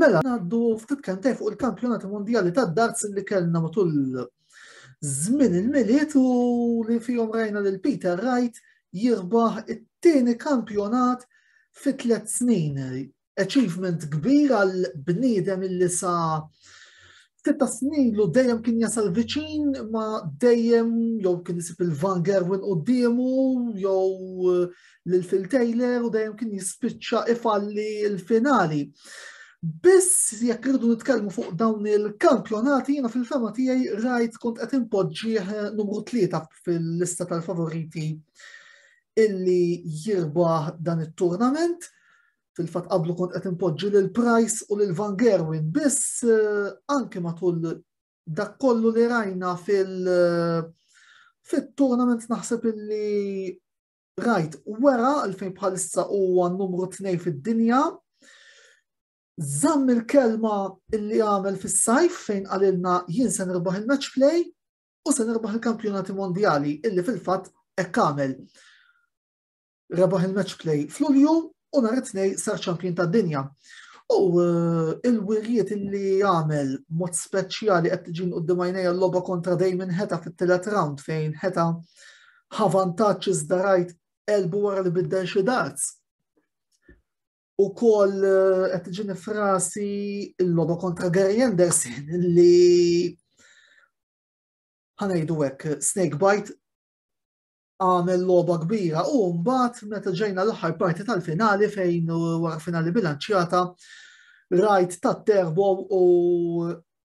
Mela, għaddu ftit kentej fuq il-kampjonati mondjali ta' darts li kellna matul żmien il-miliet u li fihom rajna lil Peter Wright jirbaħ it-tieni kampjonat fi tliet snin. achievement kbir għal bniedem illi sa sitta snin lu dejjem kien jasal viċin ma dejjem jew kien isib il-Van Gerwin qudiemu jew eh, lil Phil Taylor u dejjem kien jispiċċa ifalli l-finali. Biss jekk irridu nitkellmu fuq dawn il-kampjonati jiena fil-fema tiegħi rajt kont qed inpoġġih eh, numru tlieta fil-lista tal-favoriti illi jirbaħ dan it-turnament. Fil-fatt qablu kont qed inpoġġi lil Price u lil Van Gerwin biss eh, anke matul dak kollu li rajna fil- eh, fit-tournament naħseb illi rajt wera għalfejn bħalissa huwa numru tnej fid-dinja Zamm il-kelma illi għamel fis-sajf fejn għalilna jien se nirbaħ il-match play u se nirbaħ il-kampjonati mondjali illi fil-fatt hekk għamel. rebaħ il-match play fl-Ulju u nhar it-tnej sar ċampjun tad-dinja. U eh, il-wirjiet li għamel mod speċjali qed tiġin qudiem għajnejja l-logħba kontra Damon Heta fit-tielet round fejn Heta ħavantaġġ iżda rajt elbu wara li biddel xi darts. U kol eh, qed tiġini frasi l-loba kontra Gary Anderson li ħanajdu hekk snake bite għamel logħba kbira u mbagħad meta ġejna l-aħħar parti tal-finali fejn wara finali bilanċjata rajt tat-terbo u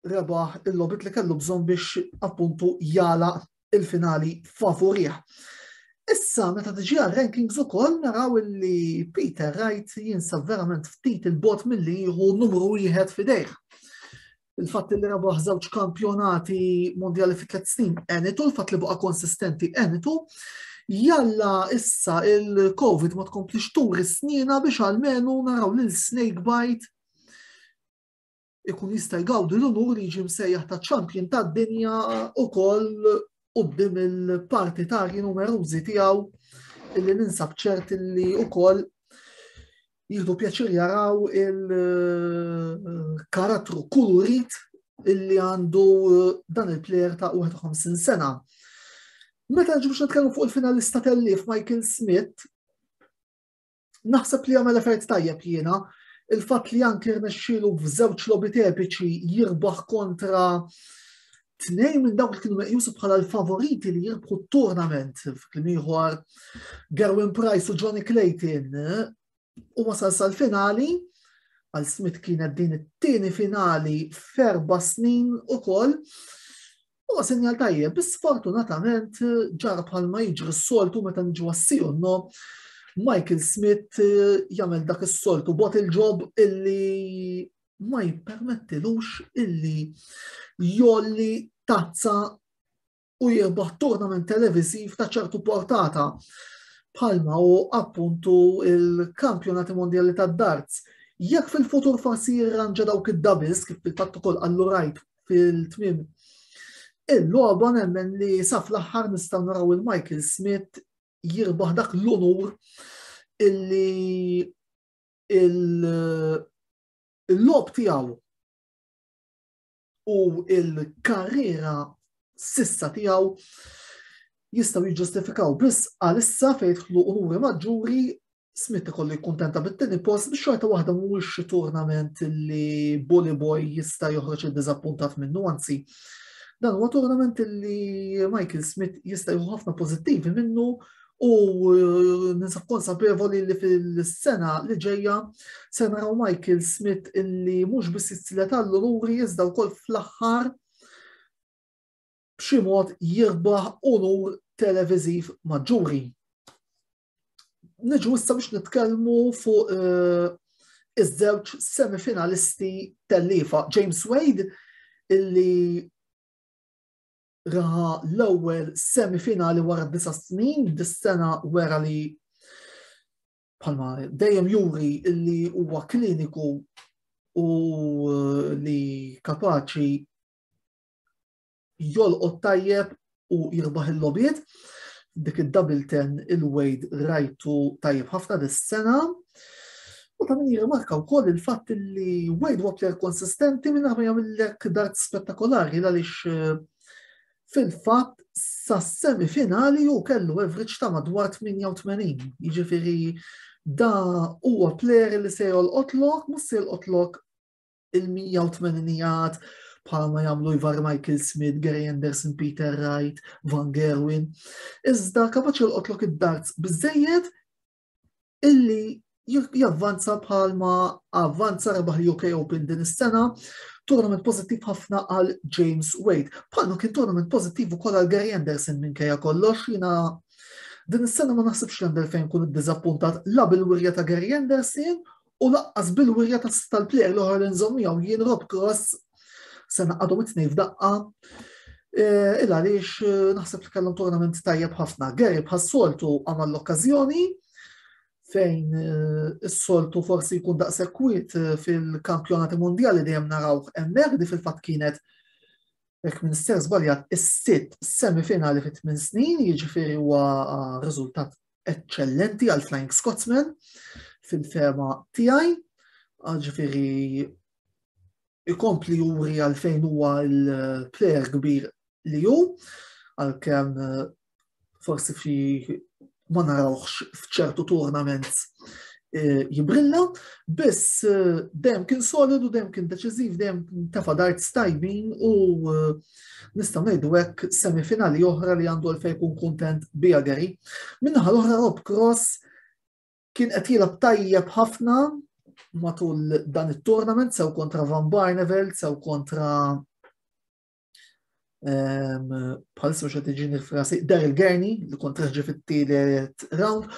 rebaħ il-lobit li kellu bżonn biex appuntu jala il-finali favorih. Issa, meta tiġi għal rankings u koll, naraw li Peter Wright jinsab verament ftit il-bot mill-li jieħu numru wieħed fidejh. il-fatt li rebaħ żewġ kampjonati mondjali fi tliet snin enitu, il-fatt li baqa' konsistenti enitu, jalla issa il-Covid ma tkomplix turi snina biex għalmenu naraw lil Snake Bite ikun jista' jgawdi l-unur li jiġi msejjaħ ta' champion ta' dinja u koll qoddim il-partitarji numerużi tiegħu illi ninsab ċert illi u koll jieħdu pjaċir jaraw il-karattru kulurit illi għandu eh, dan il-plejer ta' 51 sena. Meta ġu biex nitkellmu fuq il-finalista tellif Michael Smith, naħseb li għamel effert tajjeb jiena, il-fat li anki rnexxielu f'żewġ lobit epiċi jirbaħ kontra tnejn minn dawk li kienu meqjusu bħala l-favoriti li jirbħu t-tournament f'klim ieħor Gerwin Price u Johnny Clayton eh, u wasal sal-finali għal Smith kienet din it-tieni finali ferba snin u koll u sinjal tajjeb, bis fortunatament eh, ġar bħalma jiġri s-soltu meta nġu għassiju no Michael Smith eh, jagħmel dak is-soltu bot il-ġob illi ma jippermettilux illi jolli tazza u jirbaħ tournament televiziv ta' ċertu portata bħalma u appuntu il-kampjonati mondjali ta' darts. Jekk fil-futur forsi jirranġa dawk id-dabis kif fil-fatt ukoll għallu rajt fil-tmim. Il-logħba nemmen li saf l-aħħar nistgħu naraw il-Michael Smith jirbaħ dak l-unur illi il-lob tiegħu u il-karriera sissa tiegħu jistaw jiġġustifikaw biss għalissa fejn jidħlu unuri maġġuri Smith ikollu jkuntenta bit-tieni post biex xorta waħda mhuwiex xi turnament li Bully Boy jista' joħroġ id-diżappuntat minnu, anzi dan huwa turnament li Michael Smith jista' jieħu ħafna pożittivi minnu U ninsa konsapevoli li fil-sena li ġejja se naraw Michael Smith illi mhux biss jitzilet għall-luri iżda wkoll fl-aħħar b'xi mod jirbaħ unur televiżiv maġġuri. Niġu issa biex nitkellmu fuq eh, iż-żewġ semifinalisti tal-lifa James Wade illi raha l-ewwel semifinali wara disa snin, dis-sena wera li bħalma dejjem juri li huwa kliniku u eh, li kapaċi jolqot tajjeb u jirbaħ il-lobiet dik id-double ten il-wejd rajtu tajjeb ħafna dis-sena. U ta' min jirrimarka wkoll il-fatt li Wade huwa plejer konsistenti minn ma jagħmillek dat spettakolari għaliex eh, fil-fatt sa semifinali u kellu average ta' madwar 88. Jiġifieri da huwa plejer li se jolqotlok, mhux se jolqotlok il-180 jgħad bħalma jagħmlu Ivar Michael Smith, Gary Anderson, Peter Wright, Van Gerwin. Iżda kapaċi l-qotlok id-darts biżejjed illi javvanza bħalma avvanza rebaħ l-UK Open din is-sena, tournament pozittiv ħafna għal James Wade. Bħalma kien tournament pozittiv ukoll għal Gary Anderson minn kajja kollox jina din is-sena ma naħsibx l-għandel fejn kun id-dizappuntat la bil-wirja ta' Gary Anderson u laqqas bil-wirja tal-plejer l-oħra li nżomm miegħu jien Rob Cross se naqadhom it-tnejn f'daqqa. Eh, il għaliex eh, naħseb li kellhom tournament tajjeb ħafna. Gary bħas-soltu għamel l-okkażjoni fejn eh, is-soltu forsi jkun daqsekwit eh, fil-kampjonati mondjali dejjem naraw hemmhekk di fil-fatt kienet jekk minn ser żbaljat is-sitt semifinali fit tmien snin, jiġifieri huwa eh, riżultat eċċellenti għal Flying Scotsman fil-fema tiegħi, ġifieri ikompli juri għalfejn huwa l-player kbir li hu, għalkemm eh, forsi fi ma narawx f'ċertu tournament eh, jibrilla, biss eh, dem kien solidu, dem kien deċiżiv, dem tefa dart stajbin u nistgħu ngħidu hekk semifinali oħra li għandu għalfejn jkun kuntent bija Gary. Minnaħa l-oħra Rob Cross kien qed jilgħab tajjeb ħafna matul dan it-tournament sew kontra Van Barnevel, sew kontra ehm, bħal soċa tiġini frasi Daryl Gurney li kontra ġi fit-tielet round.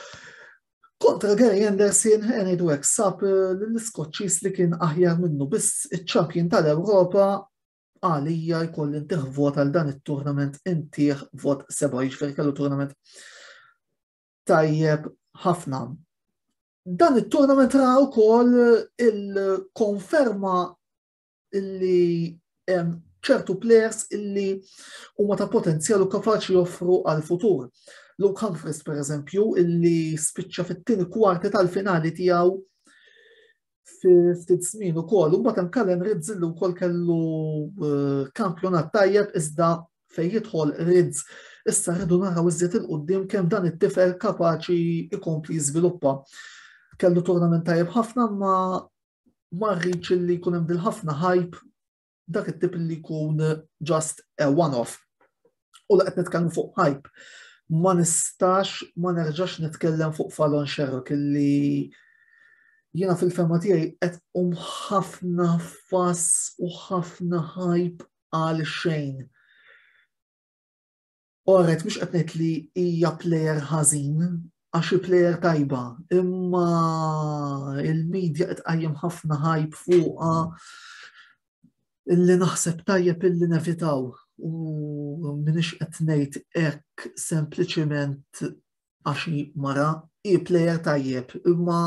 Kontra Gary Anderson, għeni dwek sab eh, l-Skoċċis li kien aħjar minnu biss iċ-ċampjin tal-Ewropa għalija jkolli ntih vot għal dan it-turnament intih vot seba' jiġifieri kellu turnament tajjeb ħafna. Dan it-turnament ra wkoll il-konferma li ċertu players illi huma ta' potenzjal u kapaċi joffru għal futur. Luke Humphries per eżempju illi spiċċa fit-tieni kwarti tal-finali tiegħu ftit żmien ukoll, u mbagħad hemm Kalen Rizz li wkoll kellu eh, kampjonat tajjeb iżda fejn jidħol Rizz issa rridu naraw iżjed il-qudiem kemm dan it-tifel kapaċi ikompli jiżviluppa. Kellu turnament tajjeb ħafna ma marriċ li jkun hemm dil-ħafna ħajb dak it-tip li jkun just a one-off. U laqt nitkellmu fuq hype. Ma nistax, ma nerġax nitkellem fuq Fallon Sherrock li jina fil-fema tiegħi qed um ħafna fass u ħafna hype għal xejn. Oret mhux qed ngħid li hija plejer ħażin għax hi plejer tajba, imma il-medja qed qajjem ħafna ħajb fuqha illi naħseb tajjeb illi nevitaw u minix qed ngħid hekk sempliċement għax mara hi plejer tajjeb, imma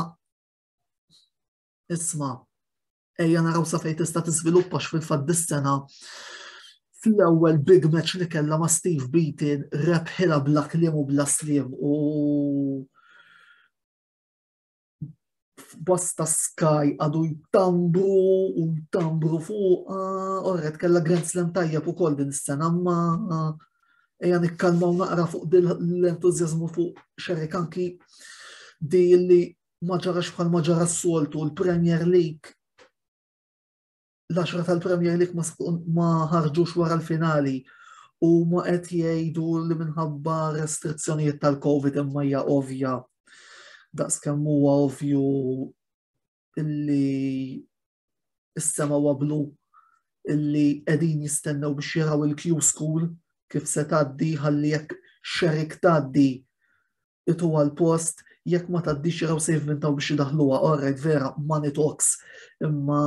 isma' ejja naraw sa fejn tista' tiżviluppa x'fil-fatt dis-sena fl-ewwel big match li kellha ma' Steve Beaton rebħilha bla kliem u bla sliem u bosta Sky għadu jtambru u jtambru fuq, orret kella Grand Slam tajjeb u koll din s-sena, ma eja nikkalma u naqra fuq l-entuzjazmu fuq xerrikanki di li ma ġarax bħal ma ġara s-soltu l-Premier League l-10 tal-Premier League ma ħarġux wara l-finali u ma qed jgħidu li minħabba restrizzjonijiet tal-Covid imma hija ovvja daqs kemm huwa ovvju li is-sema wablu illi qegħdin jistennew biex jaraw il-Q School kif se tgħaddi ħalli jekk xerik tgħaddi itu għal post jekk ma tgħaddix jaraw sejf minn taw biex jidaħluha orrejt vera money talks imma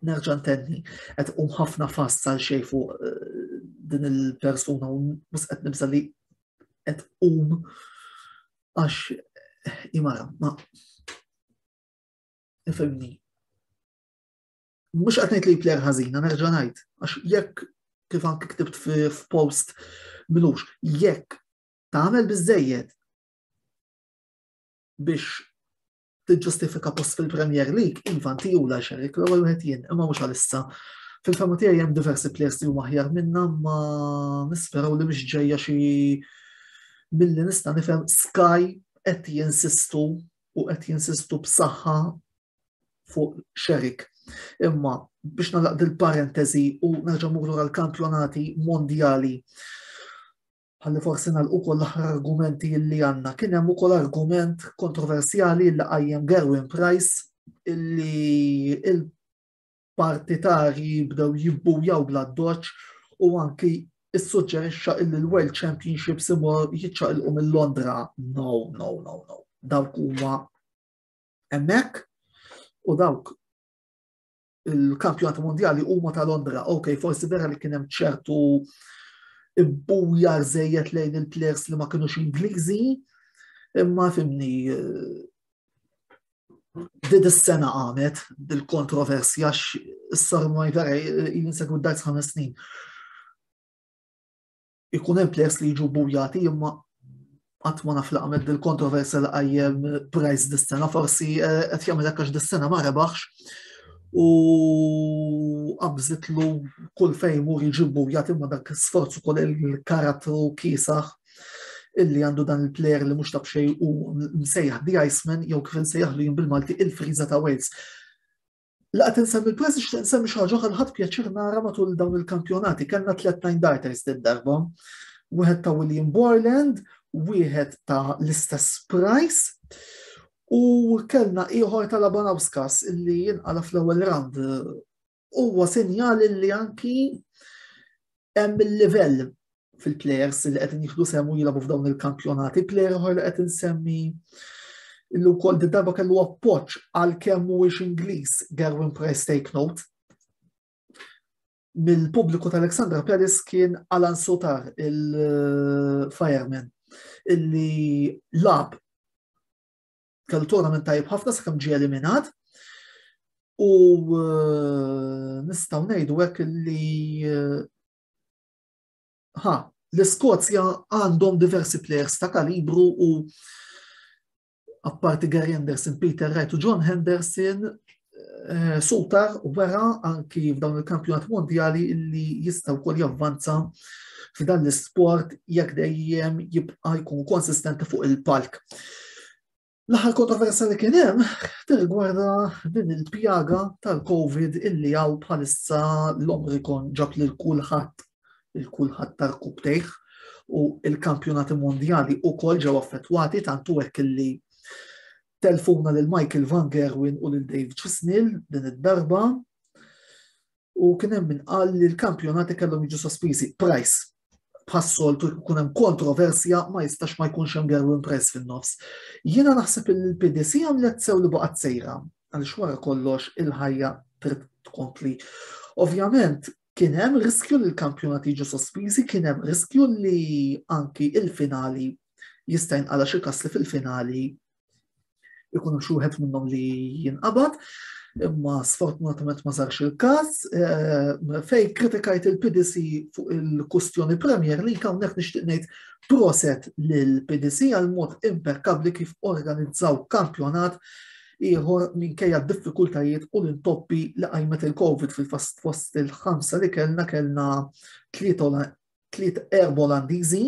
nerġa' ntenni qed um ħafna fast għal xejn fuq eh, din il-persuna u mhux qed nibsa li qed um għax imara ma Ifimni. Mux għatnejt li player ħazina, nerġa najt. Għax jekk kif anki ktibt f'post minux, jekk tagħmel biżejjed biex tiġġustifika post fil-Premier League, iva nti u la xerik l ewwel wieħed jien, imma mhux għalissa. Fil-fema tiegħi hemm diversi players li huma aħjar minna ma nisperaw li mhix ġejja xi milli nista' nifhem Sky qed jinsistu u qed jinsistu b'saħħa fuq xerik. Imma biex nalaq dil-parentesi u nerġa' murru għal-kampjonati mondjali ħalli forsi nalqu kol l-aħħar argumenti li għanna. Kien hemm ukoll argument kontroversjali li qajjem Gerwin Price illi partitarji bdew jibbujaw bla doċ u anki issuġġerixxa illi l-World Championships imur jiċċaqilqu minn Londra. No, no, no, no. Dawk huma hemmhekk u dawk il-kampjonat mondjali huma ta' Londra. Ok, forsi vera li kien hemm ċertu ibbujar żejjed lejn il-players li ma kinux Ingliżi, imma fimni eh, Did is-sena għamet bil-kontroversja s-sar Majvera jinsegwu d-dajs ħames snin. Ikun hemm players li jiġu bujati imma qatt ma naf li għamet bil-kontroversja li qajjem price dis-sena forsi eh, qed jagħmel hekk għax dis-sena ma rebaħx u qabżitlu kull fejn mur jiġi bujat imma dak sforzu kol il-karatru kisaħ illi għandu dan il-player li mhux tab xejn u msejjaħ The Iceman jew kif insejjaħlu jien bil-Malti il-friża ta' Wales. La qed insemmi l-press nixtieq insemmi xi ħaġa ħadd pjaċir nara matul dawn il-kampjonati kellna tliet nine darters din darba. Wieħed ta' William Borland, wieħed ta' l-istess Price, u kellna ieħor ta' Labanauskas illi jinqala fl-ewwel round Huwa sinjal li anki hemm il-livell fil-plejers li qed jieħdu semmu jilagħbu f'dawn il-kampjonati, plejer oħra li qed insemmi illu kol di darba kellu appoċ għal kemm mhuwiex Ingliż Gerwin Price take note. Mill-pubbliku tal-Alexandra Paris kien Alan Sotar il-fireman illi lab kellu tournament tajjeb ħafna sakemm ġie eliminat. U eh, nistgħu ngħidu hekk li eh, ha, l-Iskozja għandhom diversi players ta' kalibru u apparti Gary Anderson, Peter Wright u John Henderson, eh, Sutar wera anki f'dawn il-kampjonat mondjali li jistaw kol javvanza f'dan l-sport jekk dejjem jibqa' jkun konsistenti fuq il-palk. L-aħħar kontroversa li kien hemm tirgwarda din il-pjaga tal-COVID illi għaw bħalissa l-Omrikon ġab lil kulħadd il-kulħadd tal-kub tejħ u il-kampjonati mondjali u kol ġew affettwati tantu hekk illi telfuna lil Michael Van Gerwen u lil Dave Chisnell din id-darba u kien hemm min qal li l-kampjonati kellhom jiġu sospiżi. Price bħas-soltu jkun hemm kontroversja ma jistax ma jkunx hemm Gerwin Price fin-nofs. Jiena naħseb li l-PDC għamlet sew li baqgħet sejra għaliex wara kollox il-ħajja trid tkompli. Ovvjament, Kien hemm riskju li l-kampjonati jiġu sospiżi, kien hemm riskju li anki il-finali jista' jinqala xi kas li fil-finali ikunu xi wieħed minnhom li jinqabad, imma sfortunatament ma sarx il-każ. Eh, fej kritikajt il-PDC fuq il-kustjoni Premier li hawnhekk nixtieq ngħid proset lill-PDC għal mod impekkabli kif organizzaw kampjonat ieħor minkejja d-diffikultajiet u l-intoppi li qajmet il-Covid fil-fast fost il-ħamsa li kellna kellna tliet erba Olandiżi,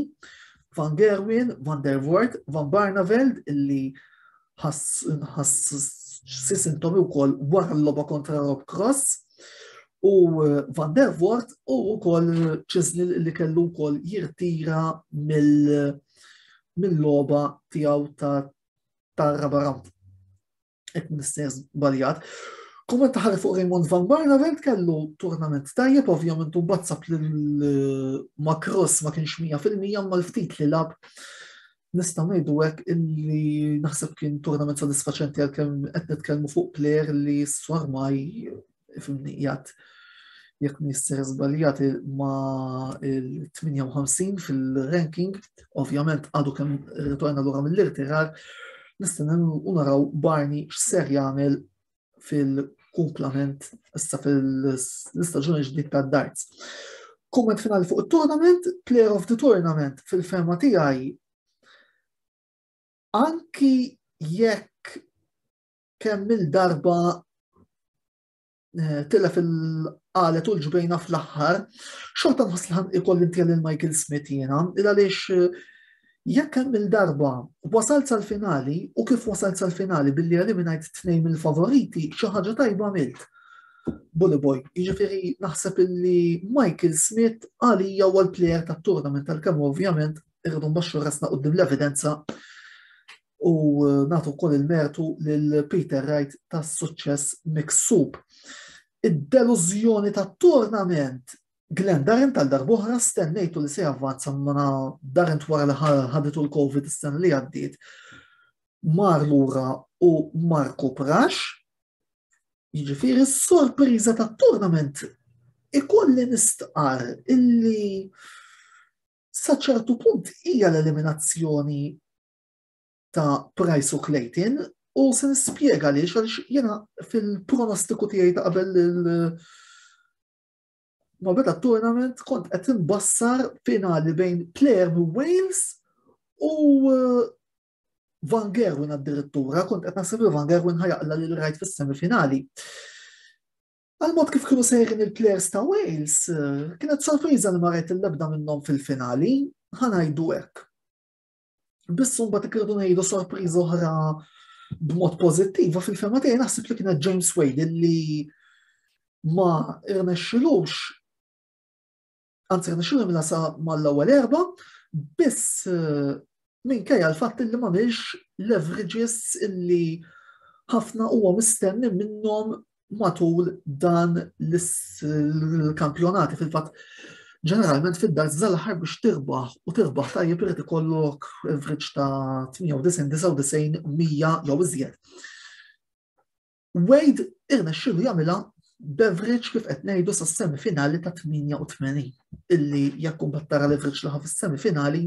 Van Gerwin, Van der Voort, Van Barneveld illi ħass sisintomi u kol wara l-loba kontra Rob Cross u eh, Van der Voort u kol ċizni li kellu kol jirtira mill-loba tijaw ta' ta' Rabaram. Ek mister baljat. Kumment taħar fuq Raymond Van Barnavent kellu turnament tajjeb, ovvjament u bazzab li l-Macross eh, ma kienx 100% ma l-ftit li lab nista' ngħidu hekk illi naħseb kien turnament sodisfaċenti għalkemm qed nitkellmu fuq plejer li s-swarmaj fil-nijat jekk nisser zbaljat ma il-58 fil-ranking, ovvjament għadu kem ritorna l-għura mill-irtirar, nistenem unaraw Barni x'ser jagħmel fil-kumplament issa fil-istaġuni ġdid ta' darts. Kumment finali fuq il-tournament, player of the tournament fil-fema tiegħi anki jekk kemm il-darba eh, tilla fil-qalet u l-ġbejna fl-axħar, xorta nħas li ikoll intjel il-Michael Smith jena, il-għalix eh, jekk hemm il-darba wasalt sal-finali u kif wasalt sal-finali billi eliminajt tnejn mill-favoriti xi ħaġa tajba milt. Bully Boy, jiġifieri naħseb illi Michael Smith għalija huwa l-plejer tat-tournament tal-kemm ovvjament irridu mbaxxu rasna qudiem l-evidenza u nagħtu wkoll il-mertu lil Peter Wright tas-suċċess miksub. Id-delużjoni tat-turnament Glenn Darent tal darbohra stennejtu li se javvanza mana Darent wara li ħaditu l-Covid is-sena li għaddiet mar lura u Marku Prax. Jiġifieri s-sorpriża tat-turnament ikolli nistqar illi saċertu punt hija l-eliminazzjoni ta' Price u Clayton u se nispjega li għaliex jena fil-pronostiku tiegħi ta' qabel ma beda tournament kont qed imbassar finali bejn player minn Wales u uh, Van Gerwin addirittura kont qed naħseb li Van Gerwin ħajaqla lil rajt fis-semifinali. Għal-mod kif kienu sejrin il-players ta' Wales, uh, kienet sorpriża li marajt il-lebda minnhom fil-finali, ħanajdu hekk. Bissu mbagħad ikridu ngħidu sorpriża oħra b'mod pożittiva fil-fema tiegħi naħseb li kienet James Wade li ma irnexxilux anzi rnexxilu minna sa mal-ewwel erba, biss eh, minkejja l-fatt li ma leverages illi ħafna huwa mistenni minnhom matul dan l-kampjonati fil-fatt ġeneralment fid-dar żalaħar biex tirbaħ u tirbaħ tajjeb irid ikollok average ta' 98-99 mija jew iżjed. Wade irna xilu jagħmilha beverage kif qed ngħidu sa' semifinali ta' 88 illi jekk kumbattara l-average laħa fis-semifinali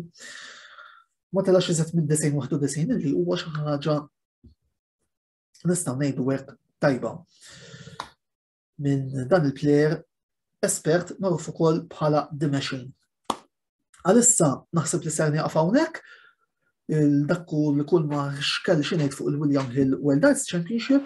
ma telax iżet minn 91 illi huwa xi ħaġa nistgħu ngħidu hekk tajba. Minn dan il-plejer espert magħruf ukoll bħala The Machine. Għalissa naħseb li ser nieqaf hawnhekk il-dakku li kull ma xkell xinejt fuq il-William Hill World Arts Championship.